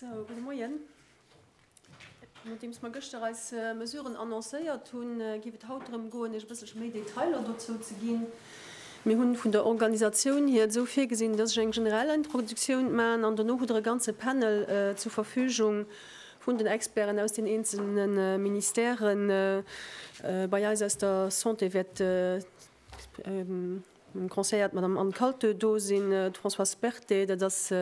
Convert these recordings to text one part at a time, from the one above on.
Sou, gudde Moien. Nodeems mer gëschter eis Mesuren annoncéiert hunn, géif et haut drëm goen, Iech e bësselche méi Detailer dozou ze ginn. Mir hu vun der Organisatioun hir et esou virgesinn, dass ech eng generell Introduktioun maachen an dono hutt Der e ganze Panel zur Verfügung, Vun den Experten aus den eenzele Ministèrë bei eis aus der Santé wäert dem Conseiller d'Madame Anne Kaltö do sinn, d'Françoise Berthet, dat ass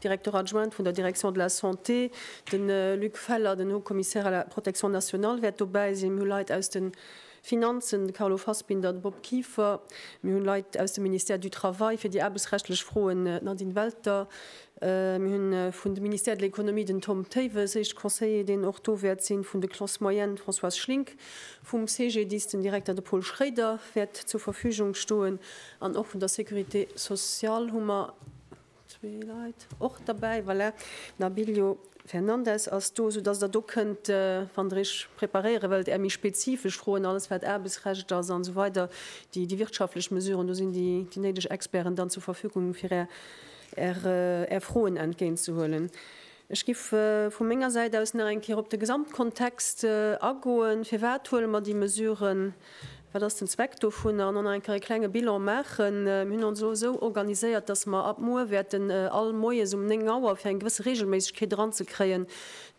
Directeur adjointe vun der Direction de la Santé, de Luc Feller, den Haut-Commissaire à la Protection nationale wäert dobäi sinn. Mir hu Leit aus den. Finanzen, de Carlo Fassbinder, de Bob Kieffer, mir hunn Leit aus dem Ministère du Travail fir déi aarbechtsrechtlech Froen, d'Nadine Welter, mir hu vun de Ministère de l'Economie den Tom Théiwes, éischt Conseiller, deen och do wäert sinn, vun de Classes moyennes d'Françoise Schlink, vum CGDIS den Direkter de Paul Schréider wäert zur Verfügung stoen an och vun der Sécurité sociale hu mer. Zwee Leit och derbäi, voilà. D'Nabilio Fernandes ass do, soudass Der do kënnt, wann Der Iech preparéiere wëllt, Är méi spezifesch Froen, alles wat Aarbechtsrecht ass a sou weider, déi wirtschaftlech Mesuren, do sinn déi néideg Experten dann zur Verfügung, fir Är Froen entgéintzehuelen. Ech giff vu menger Säit aus nach eng Kéier op de Gesamtkontext agoen. Firwat huele mer déi Mesuren? Wat ass den Zweck dovunner? An och nach eng Kéier e klenge Bilan maachen. Mir hunn ons elo esou organiséiert, dass mer ab muer wäerten all Moies um 9 Auer, fir eng gewësse Reegelméissegkeet eranzekréien,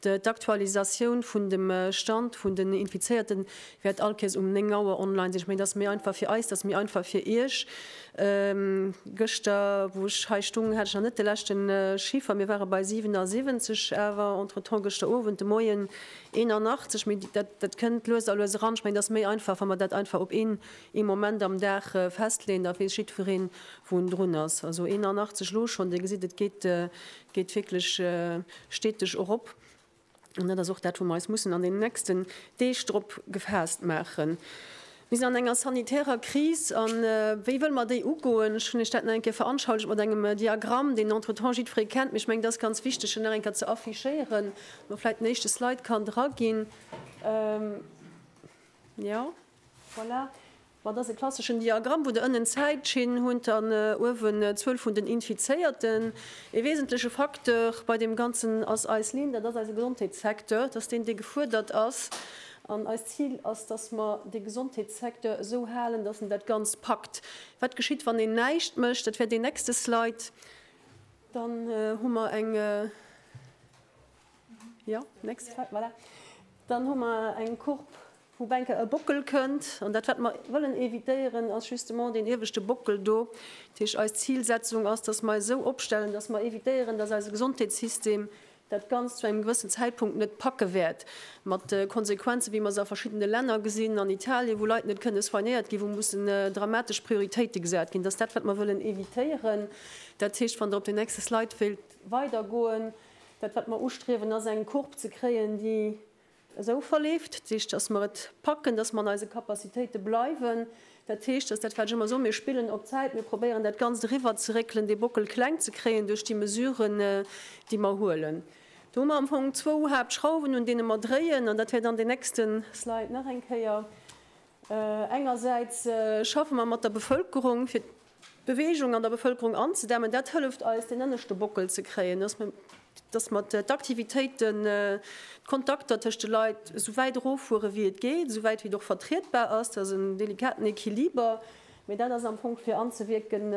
d'Aktualisatioun vun dem Stand vun den Infizéierten wäert all Kéiers um 9 Auer online sinn. Ech mengen, dass méi einfach fir eis, dass méi einfach fir Iech. Gëschter wou ech hei stung hat ech nach net de leschte Chiffer, mir ware bei 77, awer entretemps gëschter Owend, de Moien 81, mee dat kënnt lues a lues eran. Ech mengen et ass méi einfach wa mer dat einfach op een ee Moment am Dag festleeën, da weess jiddwereen wou en drun ass. Also 81 elo schonn, Dir gesitt et geet wierklech steteg erop. An dat ass och dat, wou mer eis mussen an deenen nächsten Deeg drop gefaasst maachen. Mir sinn an enger sanitärer Kris. A wéi wëlle mer déi ugoen? Ech hunn Iech dat nach eng Kéier veranschaulicht mat engem Diagramm, deen entretemps jiddweree kennt, mee ech mengen, et ass ganz wichteg, deen nach eng Kéier ze affichéieren, wann do vläicht den éischte Slide kann draginn. Jo, voilà. Mat ass e klasseschen Diagramm, wou der ënnen d'Zäitschinn hunt an uewen d'Zuel vun den Infizéierten. E wesentleche Facteur bei deem Ganzen ass eis Linn, dat ass eise Gesondheetssecteur, dass deen dee gefuerdert ass. An eist Zil ass, dass mer dee Gesondheetssecteur esou halen, dass en dat Ganzt packt. Wat geschitt, wann een näischt mécht? Dat wär deen nächste Slide. Dann hu mer eng, jo, nächst Slide, voilà, dann hu mer eng Courbe, Wou Bänke e Bockel kënnt, an dat wat mer wëllen évitéieren ass justement deen ieweschte Bockel do. Dat heescht eis Zilsetzung ass, dass mer eis esou opstellen, dass mer évitéieren, dass eise Gesondheetssystem dat Ganzt zu engem gewëssen Zäitpunkt net packe wäert, mat Konsequenzen wéi mer se a verschiddene Länner gesinn, an Italien, wou Leit net kënne soignéiert ginn, wou mussen dramatesch Prioritéite gesat ginn. Dat ass dat wat mer wëllen évitéieren. Dat heescht, wann Der op den nächste Slide wéilt weidergoen, dat wat mer ustriewen ass eng Courbe ze kréien, déi Esou verleeft d'Sich, dass mer et packen, dass mer an eise Capacitéite bleiwen. Dat heescht, dass dat, wat ech ëmmer soen, mir spillen op Zäit, mir probéieren dat Ganzt eriwwerzeréckelen, dee Bockel kleng ze kréien duerch déi Mesuren, déi mer huelen. Do hu mer am Fong zwou Haaptschrauwen, un deene mer dréien, an dat wäert an den nächste Slide nach eng Kéier. Engersäits schaffe mer mat der Bevëlkerung, fir Beweegung an der Bevëlkerung anzedämmen. Dat hëlleft eis, deen ënneschte Bockel ze kréien, dass mer, dass mer d'Aktivitéiten, d'Kontakter tëscht de Leit esou wäit eroffuere wéi et geet, esou wäit wéi et och vertrietbar ass. Dat ass en delikaten Equiliber, mee dat ass am Fong fir anzewierken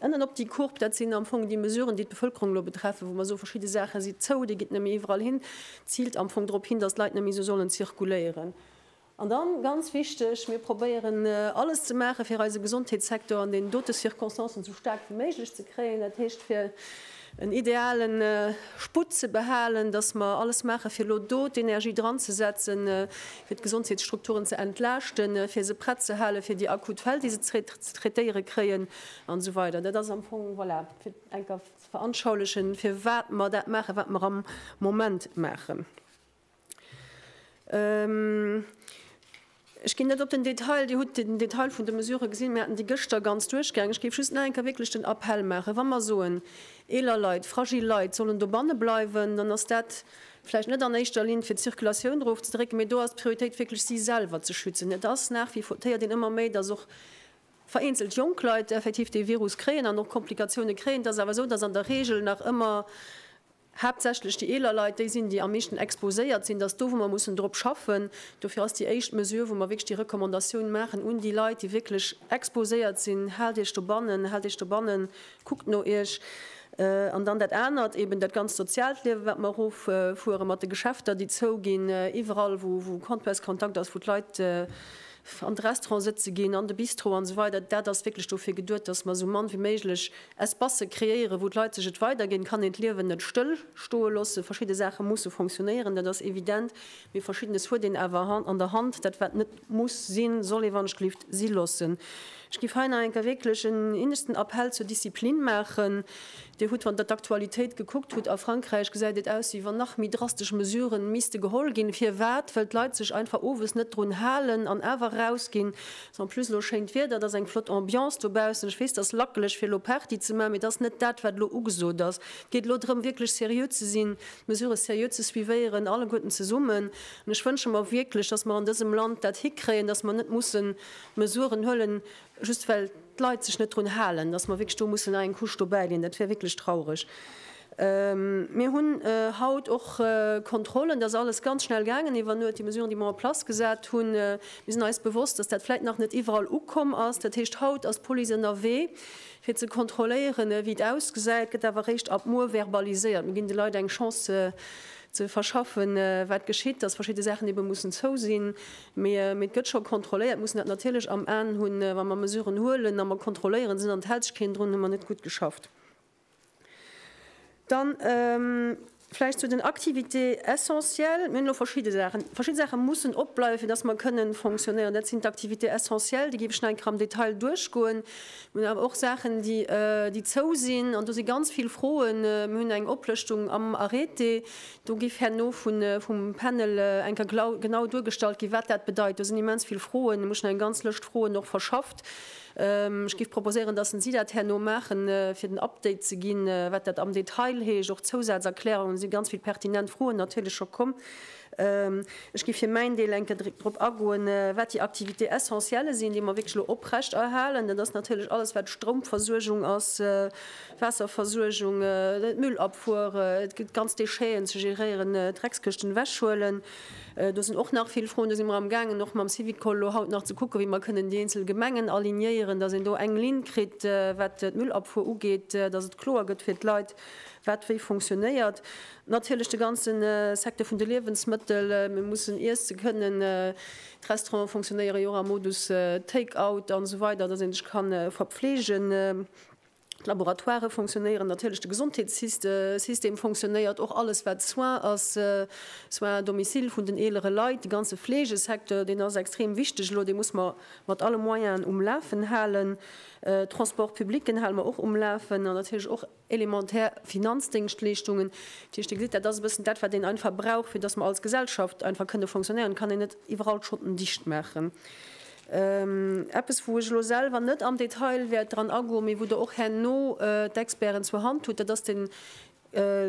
ënnen op déi Courbe. Dat sinn am Fong déi Mesuren, déi d'Bevëlkerung elo betreffen, wou mer soen, verschidde Saache si zou, dir gitt net méi iwwerall hin, ziilt am Fong drop hin, dass d'Leit net méi esou sollen zirkuléieren. An dann, ganz wichteg, mir probéieren alles ze maachen, fir eise Gesondheetssektor an deenen dote Circonstancen esou staark wéi méiglech ze kréien, dat heescht, fir en ideale Sputt ze behalen, dass mer alles maachen, fir elo do d'Energie dranzesetzen, fir d'Gesondheetsstrukturen ze entlaaschten, fir se prett ze hale fir déi akut Fäll, déi se ze traitéiere kréien an esou weider. Dat ass am Fong, voilà, fir et enker ze veranschaulichen, firwat mer dat maachen, wat mer am Moment maachen. Ech ginn net op den Detail. Dir hutt den Detail vun de Mesurë gesinn. Mir haten déi gëschter ganz duerchgaangen. Ech géif just nach eng Kéier wierklech den Appell maachen, Wa mer soen, eeler Leit, fragil Leit sollen dobanne bleiwen, dann ass dat vläicht net an éischter Linn, fir d'Circulatioun erofzedrécken, mee do ass d'Prioritéit wierklech, si selwer ze schützen. Et ass nach, wie téiert een ëmmer méi, dass och vereenzelt jonk Leit effektiv dee Virus kréien an och Komplikatioune kréien. Et ass awer esou, dass an der Reegel nach ëmmer haaptsächlech déi eeler Leit, déi sinn, déi am meeschten exposéiert sinn, dass do, wou mer mussen drop schaffen. Dofir ass déi éischt Mesure, wou mer wierklech déi Recommandatioun maachen un déi Leit, déi wierklech exposéiert sinn, Haalt Iech dobannen, haalt Iech dobannen, kuckt no Iech. An dann dat anert, eeben dat ganzt soziaalt Liewen, wat mer eroffueren, mat de Geschäfter, déi zouginn, iwwerall, wou Contact ass, wou d'Leit an d'Restaurant sëtze ginn, an de Bistro an esou weider, dat ass wierklech dofir geduet, dass mer esou mann wéi méiglech Espacë kreéieren, wou d'Leit sech et weider ginn. Et kann een d'Liewen net stëll stoe loossen. Verschidde Saache musse fonctionnéieren, dat ass evident, mee Verschiddenes huet een awer an der Hand. Dat wat net muss sinn, soll ee wann-ech-gelift si loossen. Ech géif hei nach eng Kéier wierklech en inneschten Appell zur Disziplin maachen. Dir hutt, wann Der d'Aktualitéit gekuckt hutt, a Frankräich gesäit et aus, wéi wann nach méi drastesch Mesuren misste geholl ginn. Firwat? Well d'Leit sech einfach owes net drun halen an awer rausginn. En plus, elo schéint Wieder, et ass eng flott Ambiance dobaussen. Ech weess, et ass lackeleg fir elo Party ze maachen, mee et ass net dat, wat elo ugesot ass. Et geet elo drëm, wierklech seriö ze sinn, d'Mesurë seriö ze suivéieren, alleguerten zesummen. An ech wënsche mer wierklech, datt mer an dësem Land dat hikréien, datt mer net mussen Mesuren huelen, Just well d'Leit sech net drun halen, dass mer wierklech do mussen nach eng Couche dobäidinn, dat wär wierklech traureg. Mir hunn haut och Kontrollen, dat ass alles ganz schnell gaangen iwwer Nuet, déi Mesuren, déi mer en place gesat hunn. Mir sinn eis bewosst, dass dat vläicht nach net iwwerall ukomm ass. Dat heescht, haut ass d'Police ënnerwee fir ze kontrolléieren, wéi et ausgesäit, gëtt awer eréischt ab muer verbaliséiert. Mir ginn de Leit eng Chance ze verschaffen, wat geschitt, dass verschidde Saachen ebe mussen zou sinn. Mee et gëtt scho kontrolléiert. Mir mussen dat natierlech am An hunn, wa mer Mesuren huelen a mer kontrolléieren se. An et hält sech keen drun, hu mer net gutt geschafft. Dann vläicht zu den Activités essentielles. Mir hunn elo verschidde Saachen. Verschidde Saache mussen opbleiwen, fir datt mer kënne fonctionnéieren. Dat sinn d'Activités essentielles. Déi géif ech nach eng Kéier am Detail duerchgoen. Mir hunn awer och Saachen, déi zou sinn. An do si ganz vill Froen. Mir hunn eng Oplëschtung am Arrêté. Do géif herno vum Panel eng Kéier genau duergestallt ginn, wat dat bedeit. Do sinn immens vill Froen. Ech hu schonn eng ganz Lëscht Froen och verschafft. Ech géif proposéieren, datt si dat herno maachen, fir den Update ze ginn, wat dat am Detail heescht. Och Zousazerklärungen. Et si ganz vill pertinent Froen natierlech scho komm. Ech géif fir mäin Deel eng Kéier drop agoen, wat déi Activités essentielles sinn, déi mer wierklech elo oprechterhalen. Dat ass natierlech alles, wat Stroumversuergung ass, Waasserversuergung, d'Müllabfuere, et gëtt ganz Déchéen ze geréieren, Dreckskëschten ewechhuelen. Do sinn och nach vill Froen. Do si mer am gaangen och mam Syvicol elo haut nach ze kucken, wéi mer kënnen déi eenzel Gemengen alignéieren, datt een do eng Linn kritt, wat d'Müllabfuer ugeet, datt et kloer gëtt fir d'Leit, wat wéi funktionéiert. Natierlech de ganze Secteur vun de Liewensmëttel. Mir mussen iesse kënnen. D'Restaurante funktionéiere jo och am Modus Take-out an esou weider, datt ee sech ka verpfleegen. D'Laboratoire fonctionnéieren natierlech, de Gesondheetssystem fonctionnéiert, och alles wat Soins ass, Soins à domicile vun den eelere Leit, de ganze Fleegesecteur, deen ass extrem wichteg elo, dee muss mer mat alle Moyenen um Lafen halen. Transport public, deen hale mer och um Lafen an natierlech och elementär Finanzdéngschtleeschtungen. Dat heescht, Dir gesitt, dat ass e bëssen dat wat een einfach brauch, fir datt mer als Gesellschaft einfach kënne fonctionnéieren. Et kann een net iwwerall d'Schotten dicht maachen. Eppes, wou ech elo selwer net am Detail wäert dran agoen, mee wou Der och herno d'Experten zur Hand hutt, dat ass de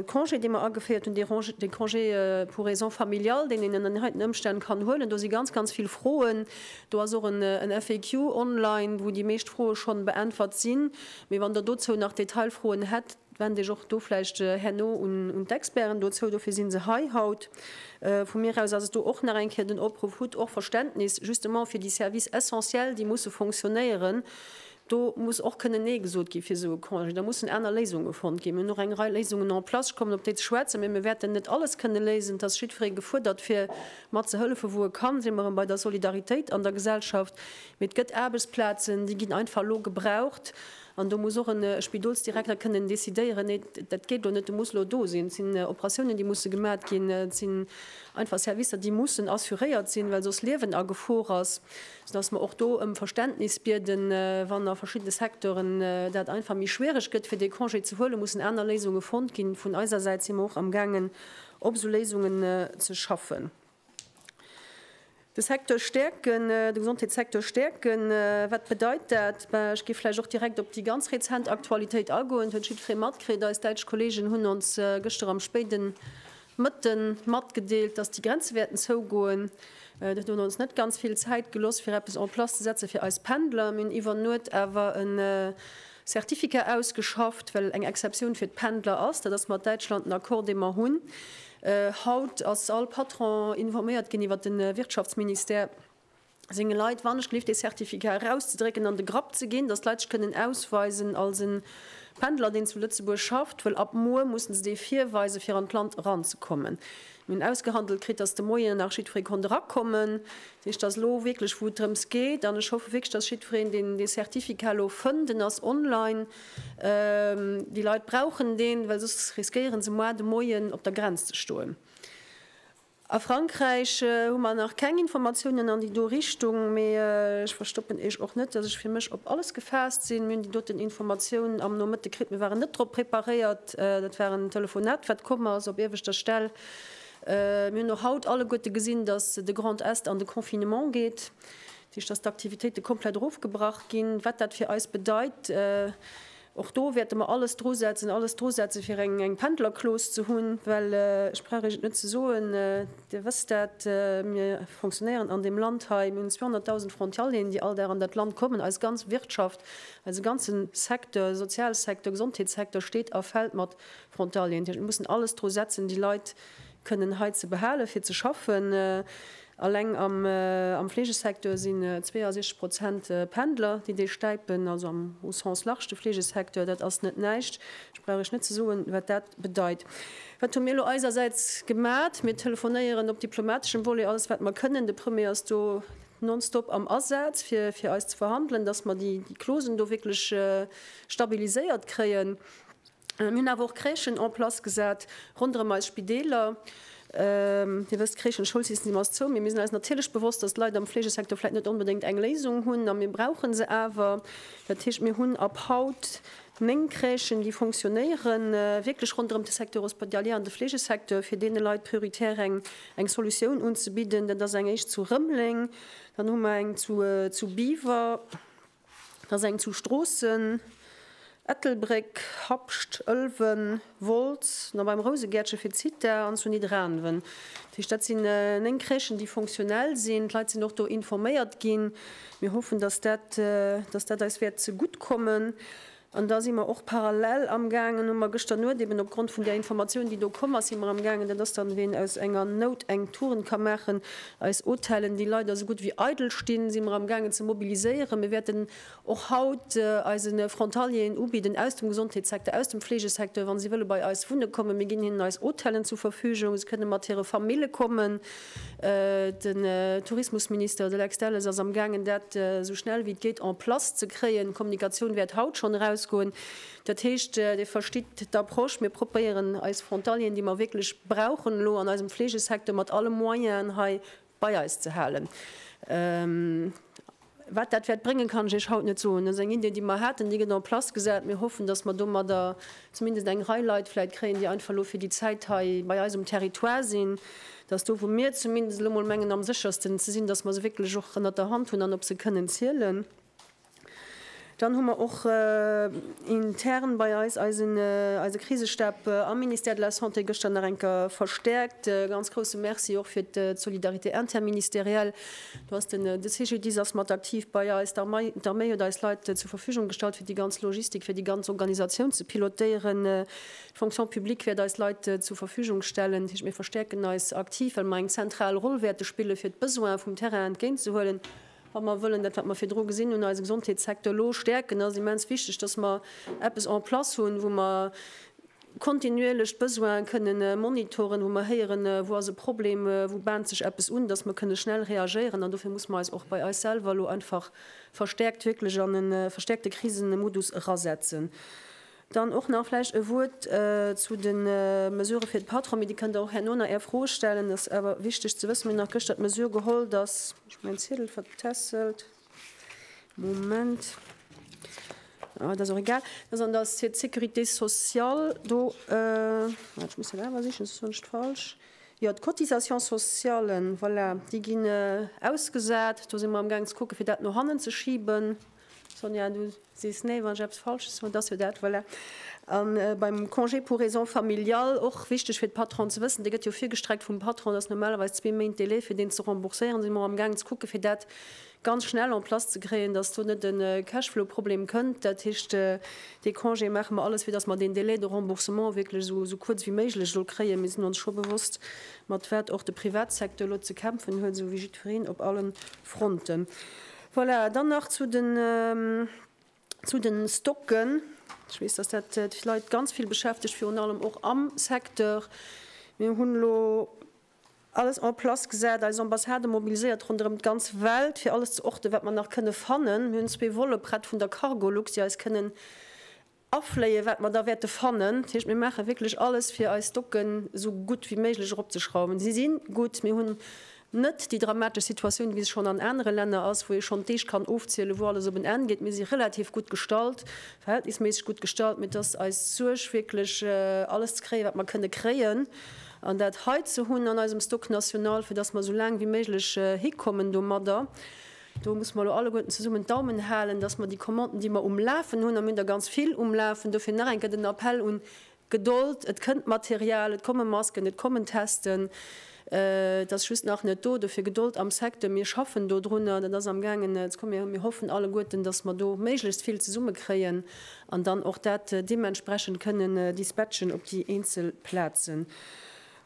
Congé, dee mer ageféiert hunn, de Congé pour raisons familiales, deen een ënner heiten Ëmstänn kann huelen. Do si ganz, ganz vill Froen. Do ass och en FAQ online, wou déi meescht Froe schonn beäntwert sinn. Mee wann Der dozou nach Detailfroen hätt, Wend Iech och do vläicht herno un d'Experten dozou, dofir si se hei haut. Vu mir aus ass et do och nach eng Kéier den Opruff, Hutt och Verständnis justement fir déi Services essentiels, déi musse fonctionnéieren. Do muss och kënnen Nee gesot gi fir esou e Congé. Da mussen aner Léisunge fonnt ginn. Mir hunn och eng Rei Léisungen en place, ech kommen op déi ze schwätzen, mä mir wäerten net alles kënne léisen. Et ass jiddweree gefuerdert, fir mat ze hëllefen, wou e kann. Si mer erëm bei der Solidaritéit an der Gesellschaft. Mee et gëtt Aarbechtsplazen, déi ginn einfach elo gebraucht. An do muss och e Spidolsdirekter kënnen decidéieren, nee, dat geet elo net, du muss elo do sinn. Et sinn Operatiounen, déi musse gemat ginn. Et sinn einfach Servicer, déi mussen assuréiert sinn, well soss Liewen a Gefor ass. Sodass mer och do ëm Verständnis bieden, wann a verschiddene Secteuren dat einfach méi schwierig gëtt, fir dee Congé ze huelen, mussen aner Léisunge fonnt ginn. Vun eiser Säit si mer och amgaangen, op esou Léisungen ze schaffen. De Secteur stäerken, de Gesondheetssecteur stäerken, wat bedeit dat? Ech géif vläicht och direkt op déi ganz rezent Aktualitéit agoen. Et huet jiddweree matkritt, eis däitsch Kolleegen hunn ons gëschter am spéide Mëtte matgedeelt, datt déi Grenze wäerten zougoen. Dat huet ons net ganz vill Zäit geloss, fir eppes en place ze setzen fir eis Pendler. Mir hunn iwwer Nuet awer e Certificat ausgeschafft, well eng Exceptioun fir d'Pendler ass. Dat ass mat Däitschland en Accord, dee mer hunn. Haut ass all Patron informéiert ginn iwwert de Wirtschaftsministère senge Leit, wannechgelift dee Certificat erauszedrécken an de Grapp ze ginn, datt d'Leit sech kënnen ausweisen als e Pendler, deen zu Lëtzebuerg schafft, well ab muer mussen se dee virweisen, fir an d'Land eranzekommen. Mir hunn ausgehandelt kritt, datt de Moien nach jiddweree konnt erakommen. Heescht, dass elo wierklech, wou et drëms geet, an ech hoffe wierklech, dass jiddwereen deen dee Certificat elo fënnt, en ass online, déi Leit brauchen deen, well soss riskéiere se moar de Moien op der Grenz ze stoen. A Frankräich hu mer nach keng Informatiounen an déi do Richtung, mee ech verstoppen Iech och net, dass ech fir mech op alles gefaasst sinn. Mir hunn déi doten Informatiounen am Nomëtte kritt. Mir waren net drop preparéiert. Dat war en Telefonat, wat komm ass op ierweschter Stell. Mir hunn och haut alleguerte gesinn, dass de Grand Est an de Confinement geet, dat heescht, dass d'Aktivitéite komplett erofgebrach ginn. Wat dat fir eis bedeit, och do wäerte mer alles drusetzen, alles drusetzen, fir eng Pendlerclause ze hunn, well ech brauch Iech et net ze soen, Dir wësst dat, mir fonctionnéieren an deem Land hei, mir hunn 200.000 Frontalieren, déi all Dag an dat Land kommen. Eis ganz Wirtschaft, eise ganze Secteur, Sozialsecteur, Gesondheetssecteur steet a fält mat Frontalieren, déi mussen alles dru setzen, déi Leit kënnen hei ze behalen, fir ze schaffen. Alleng am Fleegesecteur sinn 62 Prozent Pendler, déi dee stäipen, also am au sens large de Fleegesecteur. Dat ass net näischt. Ech brauch Iech net ze soen, wat dat bedeit. Wat hu mir elo eisersäits gemat? Mir telefonéieren op diplomateschem Volet alles, wat mer kënnen. De Premier ass do nonstop am Asaz, fir fir eis ze verhandelen, dass mer déi Clausen do wierklech stabiliséiert kréien. Mir hunn awer och Crèchen en place gesat ronderëm eis Spideeler. Dir wësst, Crèchen, Schoulsystem ass zou. Mee mir sinn eis natierlech bewosst, datt d'Leit am Fleegesecteur vläicht net onbedéngt eng Léisung hunn. A mir brauche se awer. Dat heescht, mir hunn ab haut néng Crèchen, déi fonctionnéieren, wierklech ronderëm de Secteur hospitalier an de Fleegesecteur, fir deene Leit prioritär eng Solutioun unzebidden. Dat ass eng éischt zu Rëmeleng. Dann hu mer eng zu Biwer. Et ass eng zu Stroossen, Ettelbréck, Habscht, Ëlwen, Wolz, na beim Rousegäertche fir d'Zitha an zu Nidderaanwen. Dat heescht, dat sinn 9 Crèchen, déi fonctionnel sinn. D'Leit sinn och do informéiert ginn. Mir hoffen, dass dat eis wäert zegutt kommen. An da si mer och parallel amgaangen, hu mer gëschter Nuet eben opgrond vun där Informatioun, déi do komm ass, si mer amgaangen, dat ass dann, ween aus enger Nout eng Tugend ka maachen, eis Hotellen, déi leider esou gutt ewéi eidel stinn, si mer amgaangen ze mobiliséieren. Mir wäerten och haut eise Frontalieren ubidden aus dem Gesondheetssecteur, aus dem Fleegesecteur, wa si wëlle bei eis wunne kommen. Mir ginn hinnen eis Hotellen zur Verfügung, se kënne mat hire Famille kommen. Den Tourismusminister, de Lex Delles, ass amgaangen, dat esou schnell wéi et geet en place ze kréien. D'Kommunikatioun wäert haut schonn erausgoen. Dat heescht, Dir verstitt d'Approche, mir probéieren eis Frontalieren, déi mer wierklech brauchen elo an eisem Fleegesecteur, mat alle Moyenen hei bei eis ze halen. Wat dat wäert bréngen, kann ech Iech haut net soen. Dat ass eng Idee, déi mer haten, déi gëtt en place gesat. Mir hoffen, dass mer domadder zumindest eng Rei Leit vläicht kréien, déi einfach elo fir déi Zäit hei bei eis um Territoire sinn, dass do, wou mir zumindest elo mol mengen am séchersten ze sinn, dass mer se wierklech och ënnert der Hand hunn an op se kënnen zielen. Dann hu mer och intern bei eis eise Krisestab am Ministère de la Santé gëschter nach eng Kéier verstäerkt. E ganz grousse Merci och fir d'Solidarité interministérielle. Do ass den CGDIS ass mat aktiv bei eis, d'Arméi huet eis Leit zur Verfügung gestallt fir déi ganz Logistik, fir déi ganz Organisatioun ze pilotéieren. D'Fonction publique wäert eis Leit zur Verfügung stellen. Dat heescht, mir verstäerken eis aktiv, well mer eng zentral Roll wäerte spille fir d'Besoine vum Terrain entgéint ze huelen. Wa mer wëllen dat, wat mer virdru gesinn hunn, eise Gesondheetssecteur elo stäerken, ass et immens wichteg, dass mer eppes en place hunn, wou mer kontinuierlech d'Besoine kënne monitoren, wou mer héieren, wou ass e Problem, wou baant sech eppes un, dass mer kënne schnell reagéieren. An dofir musse mer eis och bei eis selwer elo einfach verstäerkt wierklech an e verstäerkte Krisemodus erasetzen. Dann och nach vläicht e Wuert zu de Mesurë fir de Patron, mee déi kënnt Der och herno nach Är Fro stellen. Et ass awer wichteg ze wëssen, mir hunn nach gëschter d'Mesure geholl, dass, ech hu mäin Ziedel vertässelt, Moment, ah, et ass och egal, dass an der Sé d'Sécurité sociale do, ah, ech muss dat awer sichen, soss soen ech d'Falsch, jo, d'Cotisations socialen, voilà, déi ginn ausgesat. Do si mer amgaang ze kucken, fir dat no hannen ze schiben. Sonja, du sees nee, wann ech eppes Falsches soen. Et ass jo dat, voilà. A beim Congé pour raisons familiales, och wichteg fir de Patron ze wëssen, dee gëtt jo virgestreckt vum Patron, et ass normalerweis zwee Méint Délai, fir deen ze rembourséieren. Do si mer och amgaangen ze kucken, fir dat ganz schnell en place ze kréien, dass do net e Cashflow-Problem kënnt. Dat heescht, dee Congé maache mer alles fir, dass mer deen Délai de remboursement wierklech esou esou kuerz wéi méiglech soll kréien. Mir sinn ons scho bewosst, mat wat och de Privatsecteur elo ze kämpfen huet, esou wéi jiddwereen op alle Fronten. Voilà, dann nach zu den, zu den Stocken. Ech weess, dass dat d'Leit ganz vill beschäftegt, virun allem och am Secteur. Mir hunn elo alles en place gesat, eis Ambassade mobiliséiert ronderëm d'ganz Welt, fir alles ze orte wat mer nach kënne fannen. Mir hunn zwee Volle prett vun der Cargolux, déi eis kënnen Afléien, wat mer da wäerte fannen. Dat heescht, mir maache wierklech alles, fir eis Stocken esou gutt wéi méiglech eropzeschrauwen. Si si gutt, mir hunn net déi dramatesch Situatioun, wéi se schonn an anere Länner ass, wou ee schonn d'Deeg kann ofzielen, wou alles op en Enn geet. Mir si relativ gutt gestallt, verhältnisméisseg gutt gestallt. Mee et ass eis Suerg, wierklech alles ze kréien, wat mer kënne kréien, an dat hei ze hunn an eisem Stock national, fir dass mer esou laang wéi méiglech hikommen domadder. Do musse mer elo alleguerten zesummen d'Daumen halen, dass mer déi Commanden, déi mer um Lafen hunn, a mir hunn der ganz vill um Lafen, dofir nach eng Kéier den Appell un Gedold, et kënnt Material, et komme Masken, et kommen Testen, et ass just nach net do, dofir Gedold am Secteur, mir schaffen dodrunner, dat ass amgaangen ze kommen. Mir hoffen alleguerten, dass mer do méiglechst vill zesummekréien an dann och dat deementsprechend kënnen dispatchen op déi eenzel Plazen.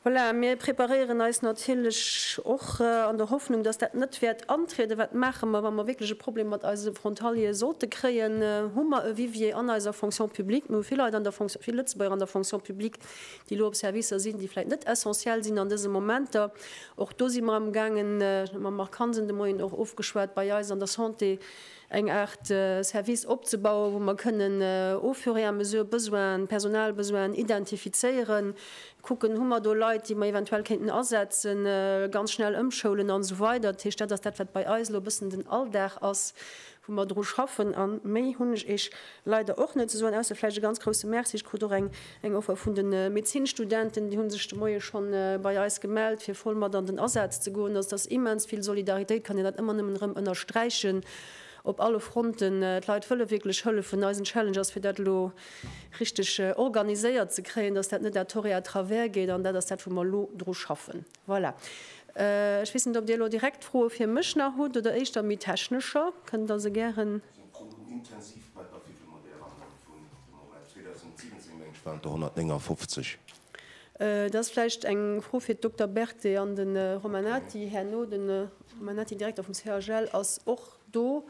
Voilà, mir preparéieren eis natierlech och an der Hoffnung, dass dat net wäert antrieden. Wat maache mer, wa mer wierklech e Problem mat eise Frontaliere sollte kréien? Hu mer e Vivier an eiser Fonction publique? Mir hu vill Leit an der Fonction, vill Lëtzebuerger an der Fonction publique, déi elo op Servicer sinn, déi vläicht net essentiell sinn an dese Momenter. Och do si mer amgaangen, ech hunn mam Marc Hansen de Moien och ofgeschwat, bei eis an der Santé eng Aart Service opzebauen, wou mer kënnen au fur et à mesure Besoinen, Personalbesoinen identifizéieren, Kucken, hu mer do Leit, déi mer eventuell kéinten asetzen, ganz schnell ëmschoulen an esou weider. Dat heescht, dat ass dat, wat bei eis elo e bëssen den Alldag ass, wou mer dru schaffen. A méi hunn ech Iech leider och net ze soen, ausser vläicht e ganz grousse Merci. Ech krut och eng eng Offer vun de Medezinstudenten, déi hu sech de Moie schonn bei eis gemellt, fir voll mat an den Asaz ze goen. Also, et ass immens vill Solidaritéit, kann een dat ëmmer nëmmen erëm ënnersträichen, op alle Fronten. D'Leit wëlle wierklech hëllefen. Eisen Challenge ass, fir dat elo richteg organiséiert ze kréien, dass dat net à tort et à travers geet, an dat ass dat, wou mer elo dru schaffen. Voilà. Ech weess net, ob Dir elo direkt Froe fir mech nach hutt oder éischter méi technescher. Kënnt Der se gären. Dat ass vläicht eng Fro fir d'Dokter Berthet an de Romanati herno. De Romanati, Direkter vum CHL, ass och. Do,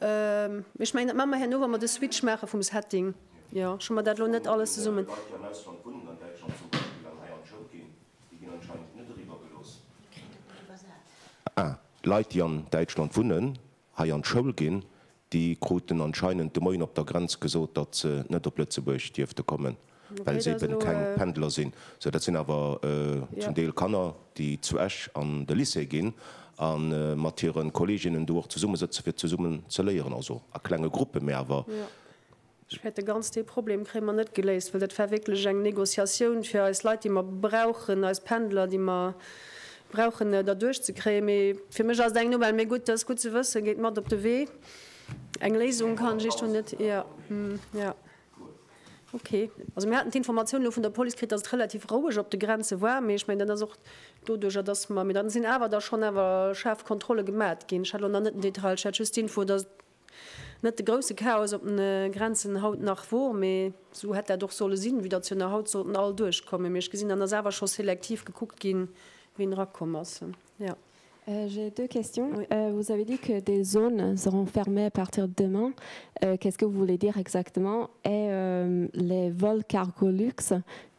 mee ech mengen dat maan mer herno wa mer de Switch maache vum Setting. Jo, ech hu mer dat elo net alles zesummen. Ah, Leit déi an Däitschland wunnen, hei an d'Schoul ginn, déi kruten anscheinend de Moien op der Grenz gesot, datt se net op Lëtzebuerg dierfte kommen. well se eben keng Pendler sinn. Sou, dat sinn awer zum Deel Kanner, déi zu Esch an de Lycée ginn a mat hire Kolleeginnen do och zesumme sëtzen, fir zesummen ze léieren. Also a klenge Gruppen, mä awer. Ech fäert, de ganz dee Problem kréie mer net geléist, well dat war wierklech eng Négociatioun, fir eis Leit, déi mer brauchen, eis Pendler, déi mer brauchen, derduerch ze kréien. Mee fir mech ass et eng Nouvelle. Mee gutt, dat ass gutt ze wëssen. Geet mat op de Wee. Eng Léisung kann ech iech do net, jo, jo. Ok, also mir haten d'Informatioun elo vun der Police kritt, dass et relativ roueg op de Grenze war, mee ech mengen, dat ass och doduerjer, dass mer, mee da sinn awer da schonn awer schaarf Kontrolle gemat ginn. Ech hat elo nach net den Detail, ech hat just d'Info, dass et net de grousse Chaos op den Grenzen haut nach wor, mee esou hätt dat och solle sinn, vue dass jo nach haut sollten all duerchkommen. Mee ech gesinn, dann ass awer scho selektiv gekuckt ginn, wien erakomm ass. Ja, j'ai deux questions. Vous avez dit que des zones seront fermées à partir de demain. Qu'est-ce que vous voulez dire exactement? Et les vols Cargolux,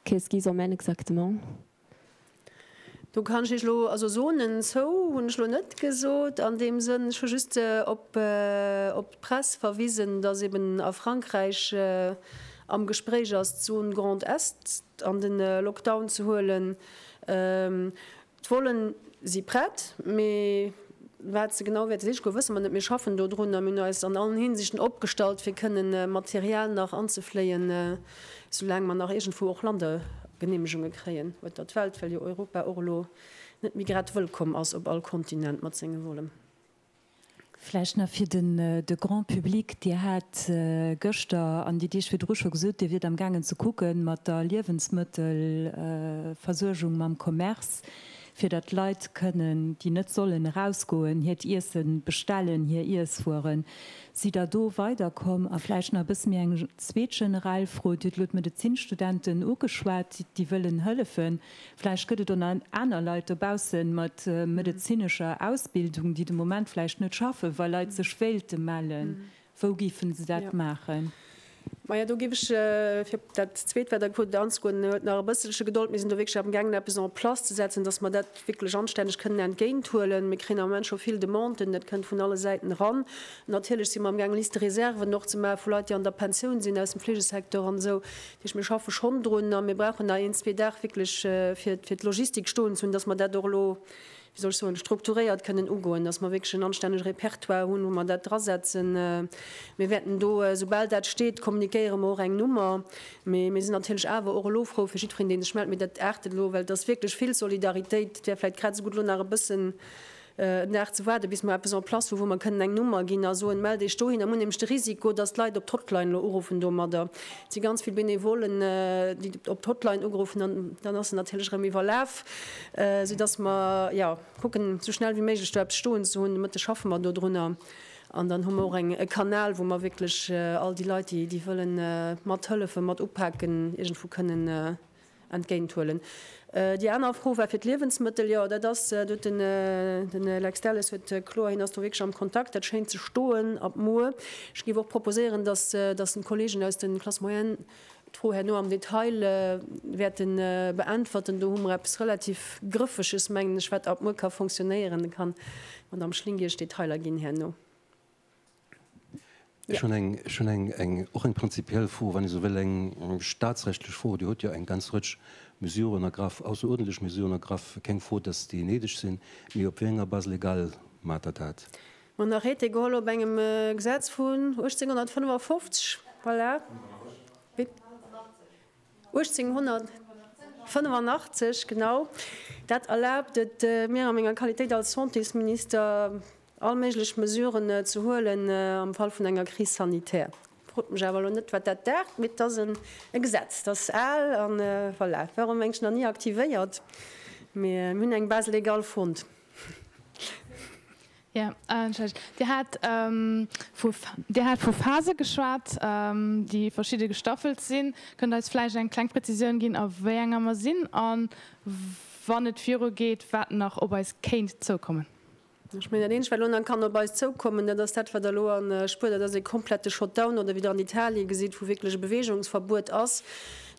qu'est-ce qu'ils emmènent exactement? Do kann ech Iech elo, also Zonen zou hunn ech elo net gesot an deem Sënn. Ech hu just op d'Press verwisen, dass eben a Frankräich am Gespréich ass, d'Zone Grand Est an de Lockdown ze huelen. D'Vollen si prett, mee wat se genau wäerte siche goen, wësse mer net. Mir schaffen dodrun a mir hunn eis an allen Hinsichten opgestallt, fir kënne Material nach anzefléien, soulaang mer nach iergendwou och Landegeneemegunge kréien, wat dat welt, well jo Europa och elo net méi grad wëllkomm ass op all Kontinent mat senge Vollen. Vläicht nach fir de Grand public, Dir hat gëschter an déi Deeg virdru scho gesot, Dir wiert amgaangen ze kucke mat der Liewensmëttelversuergung, mam Commerce, fir datt d'Leit kënnen, déi net sollen erausgoen, hiert Iesse bestellen, hir Iesswueren. Sidd Der do weiderkomm? A vläicht nach e bësse méi eng zweet generell Fro, Dir hutt elo d'Medezinstudenten ugeschwat, déi wëllen hëllefen. Vläicht gëtt et och nach aner Leit dobausse mat medezinescher Ausbildung, déi de Moment vläicht net schaffen, wa Leit sech wéilte mellen. Wou géife se dat maachen? Maja, do géif ech fir op dat Zweet, wat der gefrot hutt, anzegoen, huet nach e bësselche Gedold. Mir sinn do wierklech amgaangen, eppes en place ze setzen, dass mer dat wierklech anstänneg kënnen entgéinthuelen. Mir kréien am Moment scho vill Demanden, dat kënnt vun alle Säiten eran. Natierlech si mer amgaangen, Liste-réserven och ze maachen vu Leit, déi an der Pensioun sinn aus dem Fleegesecteur an esou. Mir schaffe schonn drun a mir brauchen nach een, zwee Dag wierklech, fir d'Logistik stoen ze hunn, dass mer dat och elo, wéi soll ech soen, strukturéiert kënnen ugoen, dass mer wierklech en anstännege Repertoire hunn, wou mer dat drasetzen. Mir wäerten do, soubal dat steet, kommuniquéiere mer och eng Nummer. Mee mir sinn natierlech awer och elo frou fir jiddwereen, dee sech mellt. Mee dat aartet elo, well et ass wierklech vill Solidaritéit. Et wär vläicht grad esou gutt, elo nach e bëssen en Dag ze waarden, bis mer eppes en place hu wou mer kënnen eng Nummer ginn a soen, mellt Iech dohin. Am hunn nämlech de Risiko, dass d'Leit op d'Hotline elo uruffen domadder. Et si ganz vill Benevollen, déi op d'Hotline ugeruffen an dann ass se natierlech erëm iwwerlaf, soudass mer, jo, kucken esou schnell wéi méiglech do eppes stoen ze hunn. De Mëtteg schaffe mer dodrunner an dann hu mer och e Kanal, wou mer wierklech all déi Leit, déi wëllen mathëllefen, mat upaken, iergendwou kënnen entgéint huelen. Déi aner Fro war fir d'Liewensmëttel. Jo, dat ass, do huet den den Lex Delles huet kloer, hien ass do wierklech am Kontakt, dat schéint ze stoen ab muer. Ech géif och proposéieren, dass dass den Kollegen aus den Classes moyennes d'Fro herno am Detail wäerte beäntwerten. Do hu mer eppes relativ Grëffeges, mengen ech, wat ab muer ka fonctionnéieren. Da kann d'Madame Schlingi Iech Detailer ginn herno. Ech hunn eng och eng prinzipiell Fro, wann ee sou wëll, eng staatsrechtlech Fro. Dir hutt jo eng ganz Rëtsch Mesuren ergraff, ausseruerdentlech Mesuren ergraff, keng Fro, datt déi néideg sinn, mee op wéi enger Base légale maacht Der dat? Mer hunn Arrêté geholl op engem Gesetz vun 1855. Voilà. 1885, genau. Dat erlaabt et mir a menger Qualitéit als Santésminister, all méiglech Mesuren ze huelen am Fall vun enger Crise sanitaire. Frot mech awer elo net, wat dat dat, mee et ass e Gesetz, dat ass al a voilà, war och, mengen ech, nach ni aktivéiert, mee mir hunn eng Base légale fonnt. Dir hat vu Phase geschwat, déi verschidde gestaffelt sinn. Kënnt Der eis vläicht eng kleng Prezisioun ginn, a wéi enger mer sinn a wann et viru geet, wat nach op eis kéint zoukommen? Ech mengen, dat Eenzegt, wat elo nach kann op eis zoukommen, dat ass dat, wat Der elo spürt, dat ass e komplette Shutdown, oder wéi Der an Italien gesitt, wou wierklech e Bewegungsverbuet ass.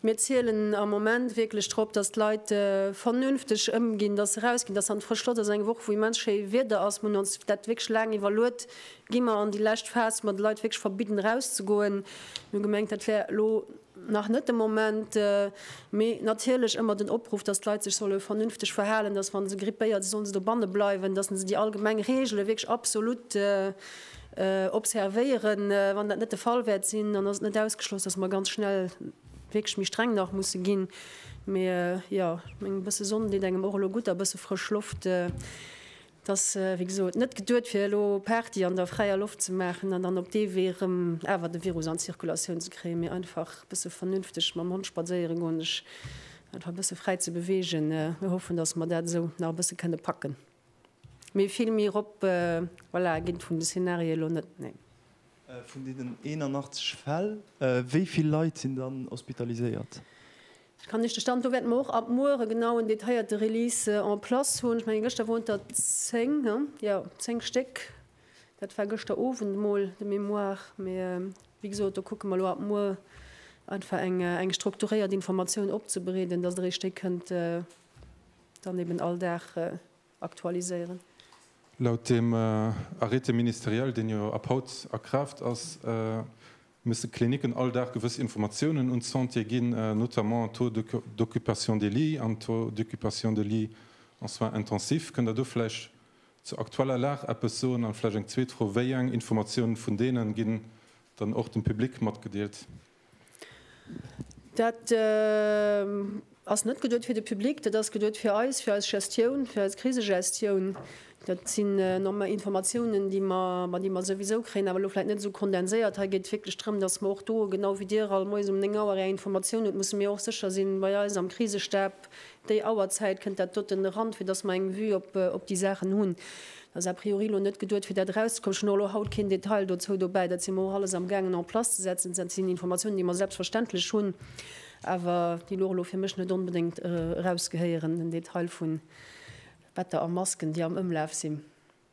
Mir zielen am Moment wierklech drop, dass d'Leit vernünfteg ëmginn, dass se erausginn, dass se an d'frësch Loft, ass eng Woch wou immens schéi Wieder ass. Mir hunn ons dat wierklech laang iwwerluet, gi mer an déi lescht Phas, wou mer de Leit wierklech verbidden erauszegoen. Mir hu gemengt, dat wär elo nach net de Moment, mee natierlech ëmmer den Opruff, dass d'Leit sech solle vernünfteg verhalen, dass wa se grippéiert si sollen se dobanne bleiwen, dass se déi allgemeng Reegele wierklech absolut. observéieren. Wann dat net de Fall wäert sinn, dann ass et net ausgeschloss, dass mer ganz schnell wierklech méi streng nach musse ginn. Mee jo, ech mengen, e bësse Sonn deet engem och elo gutt a bësse frësch Loft. Et ass, wéi gesot, net geduet, fir elo Party an der fräier Loft ze maachen an dann op dee Wee erëm awer de Virus an d'Zirkulatioun ze kréien, mee einfach e bësse vernünfteg mam Hond spadséiere goen, sech einfach e bësse fräi ze beweegen. Mir hoffen, dass mer dat esou nach e bësse kënne packen. Mee vill méi rop, voilà, ginn vun de Szenarien elo net, nee. Vun deenen 81 Fäll, wéi vill Leit sinn dann hospitaliséiert? Dat kann ech de Stand, do wäerte mer och ab muer e genauen, detailléierte Release en place hunn. Ech mengen, gëschter woren der 10, hm, jo, 10 Stéck. Dat war gëschter Owend emol de mémoire. Mee wéi gesot, do kucke mer elo ab muer einfach eng strukturéiert Informatioun opzebereeden, dass Der ee Stéck kënnt, Dann eben all Dag aktualiséieren. Laut dem Arrêté ministériel, deen jo ab haut a Kraaft ass, musse Klinicken all Dag gewëss Informatiounen un d'Santé ginn, notamment Taux d'occupation des lits an Taux d'occupation de lits en soins intensifs. Kënnt Der do vläicht zur aktueller Lag eppes soen? An vläicht eng zweet Fro, Wéi eng Informatiounen vun deenen ginn dann och dem Public matgedeelt? Dat ass net geduet fir de Public, dat ass geduet fir eis, fir eis Gestioun, fir eis Krisegestioun. Dat sinn Informatiounen, déi mer souwisou kréien, awer elo vläicht net esou kondenséiert. Hei geet et wierklech drëm, datt mer och do, genau wéi Dir all Moies um néng Auer Är Informatiounen hutt, musse mir och sécher sinn, bei eis am Krisestab Déi Auerzäit kënnt dat doten eran, fir dass mer eng Vue op déi Saachen hunn. Et ass a priori elo net geduet, fir dat erauszekommen. Ech hunn och elo haut keen Detail dozou dobäi. Dat si mer och alles amgaangen en place ze setzen. Dat sinn Informatiounen, déi mer selbstverständlech hunn, awer déi lore elo fir mech net onbedéngt erausgehéieren, den Detail vu Better a Masken, déi am Ëmlaf sinn.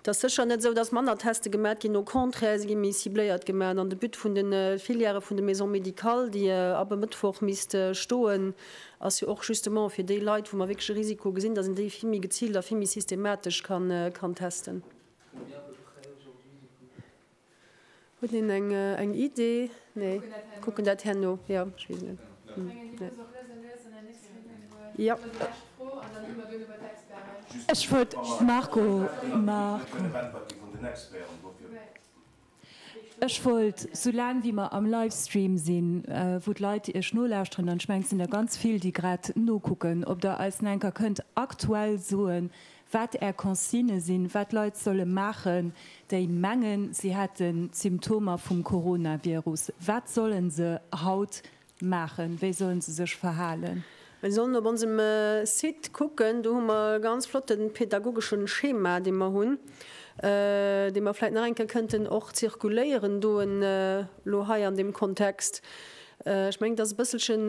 Et ass sécher net esou, datt manner Teste gemat ginn, au contraire, se gi méi cibléiert gemat. An de But vun de Filièrë vun de Maisons médicales, déi ab e Mëttwoch misste stoen, ass jo och justement, fir déi Leit, wou mer wierklech e Risiko gesinn, datt een déi vill méi geziilt a vill méi systematesch kann testen. Huet een eng eng Idee? Nee, kucken dat herno. Jo, ech weess net. Ech wollt Marco, Marco. Ech wollt, sou laang wéi mer am Livestream sinn, wou d'Leit iech nolauschteren, an ech mengen et sinn der ganz vill déi grad nokucken, ob der eis nach enker kënnt aktuell soen, wat Är Consignë sinn, wat Leit solle maachen, déi mengen, si hätte Symptomer vum Coronavirus. Wat solle se haut maachen? Wéi solle se sech verhalen? Mir sollen op onsem Site kucken, do hu mer e ganz flotten pedagogesche Schema, dee mer hunn, dee mer vläit nach eng Kéier kënnten och zirkuléieren doen elo hei an deem Kontext. Ech mengen, et ass e bësselchen,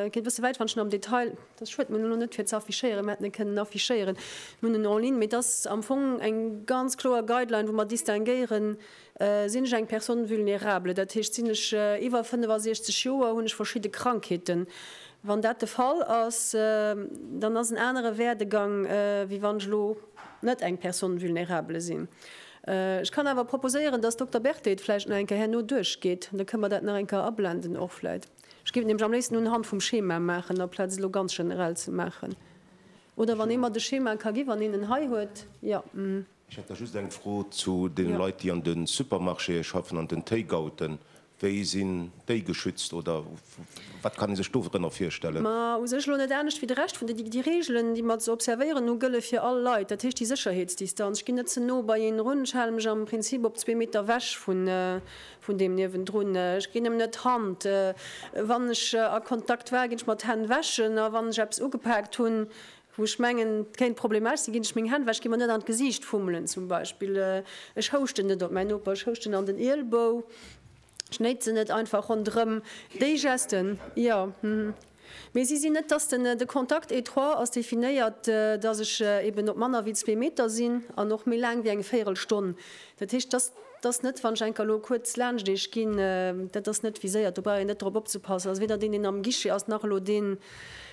geet e bësse wäit, wann ech en am Detail. Dat schued mir elo net fir ze affichéieren, mir hätten e kënnen affichéieren, mir hunn en en ligne, mee et ass am Fong eng ganz kloer Guideline, wou mer distinguéieren, sinn ech eng Personne vulnérable, dat heescht sinn ech iwwer 65 Joer, hunn ech verschidde Krankheeten. Wann dat de Fall ass, dann ass en anere Werdegang, wéi wann ech elo net eng Personne vulnérable sinn. Ech kann awer proposéieren, dass Dokter Berthet vläicht nach eng Kéier herno duerchgeet, da kënne mer dat nach eng Kéier ablenden och vläicht. Ech géif et nämlech am léifsten unhand vum Schema maachen, aplaz et elo ganz generell ze maachen. Oder wann ee mer de Schema ka ginn, wann een en hei huet, jo. Ech hätt da just eng Fro zu deene Leit, déi an de Supermarchéë schaffen, an den Takeouten. Wéi sinn déi geschützt oder wat kann ee sech dorënner virstellen? Ma u sech elo net anescht wéi de Rescht vun de Déi Reegelen, déi mer ze observéieren hu, gëlle fir all Leit. Dat heescht, déi Sécherheetsdistanz, ech ginn net ze no bei een erun, ech hale mech am Prinzip op zwee Meter ewech Vun deem niewendrun, ech ginn em net d'Hand. Wann ech a Kontakt war, ginn ech mer d'Hänn wäschen. A wann ech eppes ugepaakt hunn, wou ech mengen, et kéint problemesch sinn, ginn ech meng Hänn wäschen. Ech gi mer net an d'Gesiicht fummelen zum Beispill. Ech houschten net op mäin Noper, ech houschten an den Ielbou, ech néitsen net einfach ronderëm. Déi Gesten, jo. Mee si sinn net, dass den, de Contact étroit ass definéiert, dass ech eben op manner wéi zwee Meter sinn an och méi laang wéi eng véierel Stonn. Dat heescht, dass, dass net, wann ech enker elo kuerz laanscht Iech ginn, dat ass net viséiert, do brauch een net drop opzepassen, ass weder deen, deen am Guichet ass, nach elo deen,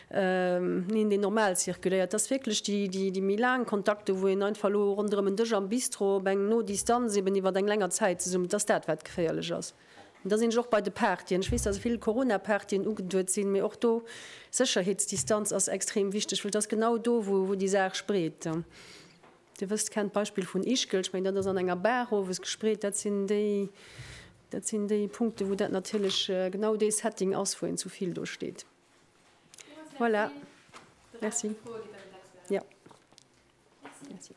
neen, deen normal zirkuléiert. Et ass wierklech déi, déi, déi méi laang Kontakten, wou een einfach elo ronderëm en Dësch am Bistro op eng no Distanz eben iwwert eng länger Zäit zesumm, et ass dat, wat geféierlech ass. Da sinn ech och bei de Partyen. Ech weess, dass e vill Corona-Partyen ugeduet sinn, mee och do, Sécherheetsdistanz ass extrem wichteg, well et ass genau do, wou déi Saach spreet. Dir wësst, kennt d'Beispill vun Ischgl, ech mengen, dat ass an enger Bar owes gespreet. Dat sinn déi, dat sinn déi Punkte, wou dat natierlech genau dee Setting ass, wou een zu vill do steet. Voilà. Merci. Jo. Merci.